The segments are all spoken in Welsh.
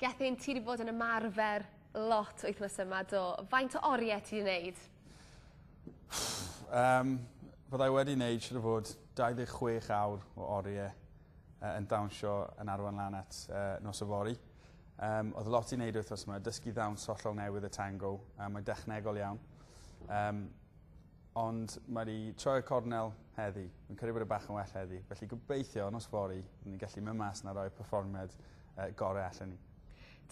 Gethin, ti wedi bod yn ymarfer lot wythnos yma, do. Faint o oriau ti wedi wneud? um, byddai wedi wneud siwr o fod 26 awr o oriau uh, yn dawnsio yn arwain lan at uh, nos y fori. Um, oedd lot i wneud wythnos yma, dysgu ddawns hollol newydd y tango, a mae'n dechnegol iawn. Um, Ond mae wedi troi'r cornel heddi. Fi'n credu bod e bach yn well heddi. Felly gobeithio nos fory byddwn ni'n gallu mynd mas na roi perfformiad uh, gorau allan ni.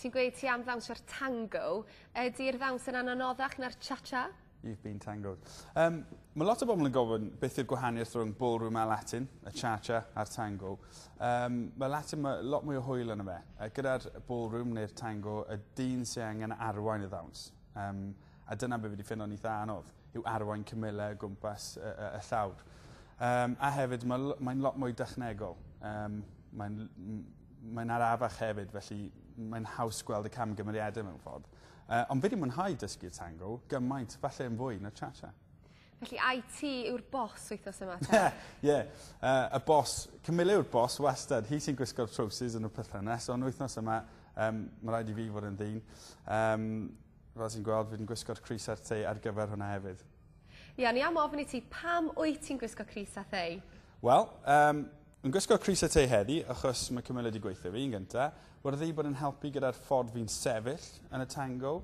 Ti'n gweud ti am ddawnsio'r tango. Ydy'r ddawns yn anoddach na'r cha-cha? You've been tangoed. Um, mae lot o bobl yn gofyn beth yw'r gwahaniaeth rhwng ballroom a Latin, y cha-cha a'r tango. Um, mae Latin mae lot mwy o hwyl yn y fe. Uh, gyda'r ballroom neu'r tango, y dyn sy'n angen arwain y ddawns. Um, A dyna be fi 'di ffindo'n eitha anodd, yw arwain cymyle o gwmpas y, y, y llawr. Um, a hefyd, mae'n mae lot mwy dechnegol. Um, mae'n mae'n arafach hefyd, felly mae'n haws gweld y camgymeriadau mewn ffordd. Uh, ond fi wedi mwynhau dysgu tango gymaint, falle yn fwy na cha-cha. Felly IT yw'r bos wythnos yma? Ie, yeah, uh, y bos, Camilla yw'r bos wastad. Hi sy'n gwisgo'r trowsus yn y perthynas, ond wythnos yma, um, mae rhaid i fi fod yn ddyn. Um, Fel ti'n gweld fi'n gwisgo'r crys a'r tei ar gyfer hwnna hefyd. Ie, o'n i am ofyn i ti pam wyt ti'n gwisgo crys a thei? Wel, um, yn gwisgo crys a tei heddi, achos mae cymryd wedi gweithio fi yn gynta, wedi wedi bod yn helpu gyda'r ffordd fi'n sefyll yn y tango,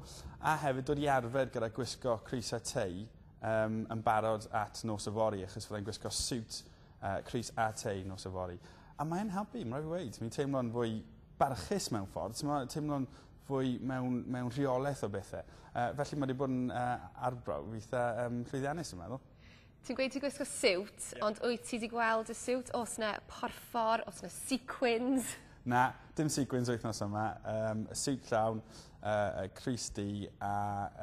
a hefyd dod i arfer gyda gwisgo crys a tei um, yn barod at nos y fori, achos fyddai'n gwisgo siwt uh, crys a tei nos y fori. A mae'n helpu, mae'n rhaid i weid, mi'n teimlo'n fwy barchus mewn ffordd, teimlo'n fwy mewn, mewn rheolaeth o bethe. Uh, felly mae wedi bod yn uh, arbrawf eitha um, llwyddiannus, yn meddwl. Ti'n gweud ti'n gwisgo siwt, yeah. ond wyt ti wedi gweld y siwt? Os na porffor, os na sequins? Na, dim sequins wythnos yma. Um, siwt llawn, uh, Chris D a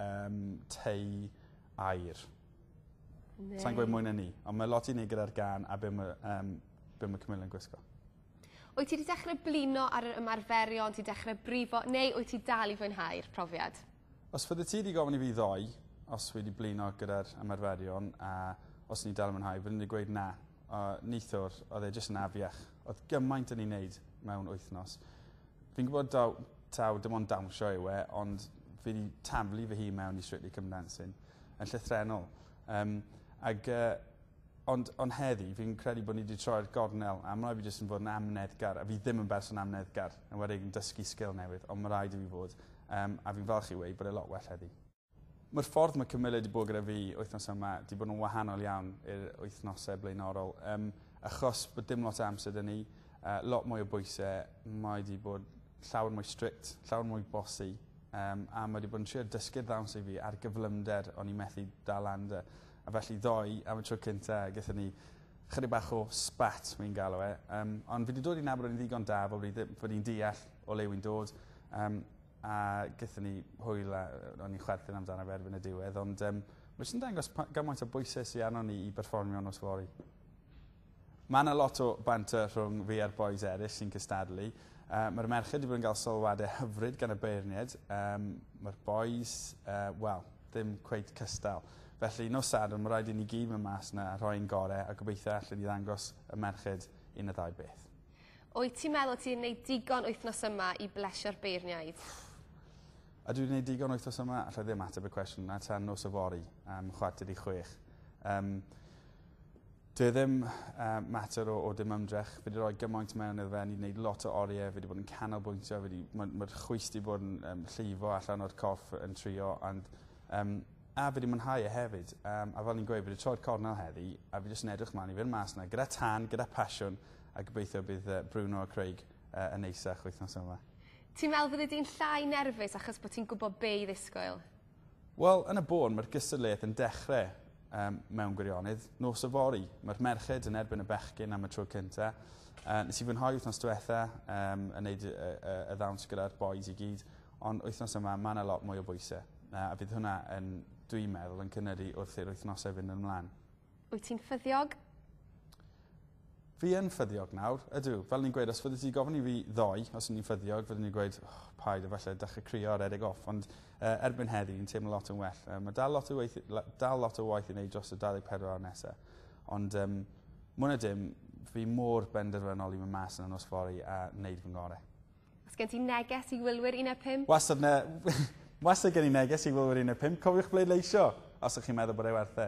um, tei air. Sa'n gweud mwy na ni, ond mae lot i ni gyda'r gan a beth mae, um, be mae Camilla yn gwisgo. Wyt ti 'di dechre blino ar yr ymarferion, ti dechre brifo, neu wyt ti dal i fwynhau'r profiad? Os fyddet ti 'di gofyn i fi ddoe os fi 'di blino gyda'r ymarferion a os o'n i dal yn mwynhau, fyddwn i 'di gweud na. A neithiwr, oedd e jyst yn afiach. Oedd gymaint o'n i'n neud mewn wythnos. Fi'n gwybod taw, taw dim ond dawnsio yw e, ond fi 'di taflu fy hun mewn i Strictly Come Dancing yn llythrennol. Um, ag uh, Ond, ond heddi, fi'n credu bod ni wedi troi'r gornel, a ma' raid fi jyst yn fod yn amyneddgar, a fi ddim yn berson amyneddgar, yn enwedig yn dysgu sgil newydd, ond ma' raid i fi fod, um, a fi'n falch i weud bod e lot well heddi. Mae'r ffordd mae Camilla wedi bod gyda fi wythnos yma wedi bod yn wahanol iawn i'r wythnosau blaenorol, um, achos bod dim lot o amser dyn ni, uh, lot mwy o bwysau, mae wedi bod llawer mwy strict, llawer mwy bosi, um, a mae wedi bod yn trio dysgu'r ddawns i fi ar gyflymder o'n i methu dal anda. A felly ddoe, am y tro cynta, gaethon ni chydig bach o spat, wi'n galw e. Um, ond fi wedi dod i nabod o'n ddigon da fod i'n deall o le wi'n dod. Um, a gaethon ni hwyl a o'n i'n chwerthin amdano fe erbyn y diwedd. Ond um, mae eisiau dangos gymaint o bwysau sy'n arno ni i berfformio nos fori. Mae 'na lot o banter rhwng fi a'r bois eraill sy'n cystadlu. Uh, Mae'r merched wedi bod yn cael sylwadau hyfryd gan y beirniaid. Um, Mae'r bois, uh, wel, ddim cweit cystal. Felly, nos Sadwrn, mae rhaid i ni gyd mynd mas yna a rhoi'n gorau a gobeithio allan ni ddangos y merched un o ddau beth. Wyt ti'n meddwl ti'n gwneud digon wythnos yma i blesio'r beirniaid? A dwi'n gwneud digon wythnos yma, allai ddim ateb y cwestiwn na tan nos y fori, am chwarter i chwech. Um, Dyw e ddim yy mater o o dim ymdrech fi 'di roi gymaint mewn iddo fe o'n i 'di neud lot o orie fi 'di bod yn canolbwyntio fi 'di ma' ma'r chwys 'di bod yn yym llifo allan o'r corff yn trio ond yym a fi 'di mwynhau e hefyd yym a fel o'n i'n gweud fi 'di troi'r cornel heddi a fi jyst yn edrych mlan i fyn' mas 'na gyda tân gyda pasiwn a gobeithio bydd yy Bruno a Craig yy yn neisach wythnos yma. Ti'n me'wl fyddi di'n llai nerfus achos bo' ti'n gwbo be' i ddisgwyl? Wel, yn y bôn, mae'r gystadleuaeth yn dechrau um, mewn gwirionedd. Nos o fori, mae'r merched yn erbyn y bechgyn am y tro cynta. Uh, nes i fwynhau wythnos diwetha um, yn neud y, y, y ddawns gyda'r boys i gyd, ond wythnos yma mae yna lot mwy o bwysau. Uh, a fydd hwnna yn, dwi'n meddwl, yn cynnyru wrth i'r wythnosau fynd yn ymlaen. Wyt ti'n ffyddiog? Fi yn ffyddiog nawr, ydw. Fel ni'n gweud, os fyddi ti gofyn i fi ddoe os o'n i'n ffyddiog, fyddwn i'n gweud, oh, paid, efallai dechrau crio ar edeg off, ond uh, erbyn heddi, yn teimlo lot yn well. Uh, mae dal lot, o weith, dal lot o waith i wneud dros y 24 awr nesaf, ond um, mwyn y dim, fi mor benderfynol i fy mas yn y nos fori a wneud fy ngorau. Os gen ti neges i wylwyr un a pump? Wastad ne... Wastad gen i neges i wylwyr un a pump, cofiwch bleidleisio os ych chi'n meddwl bod e werth e.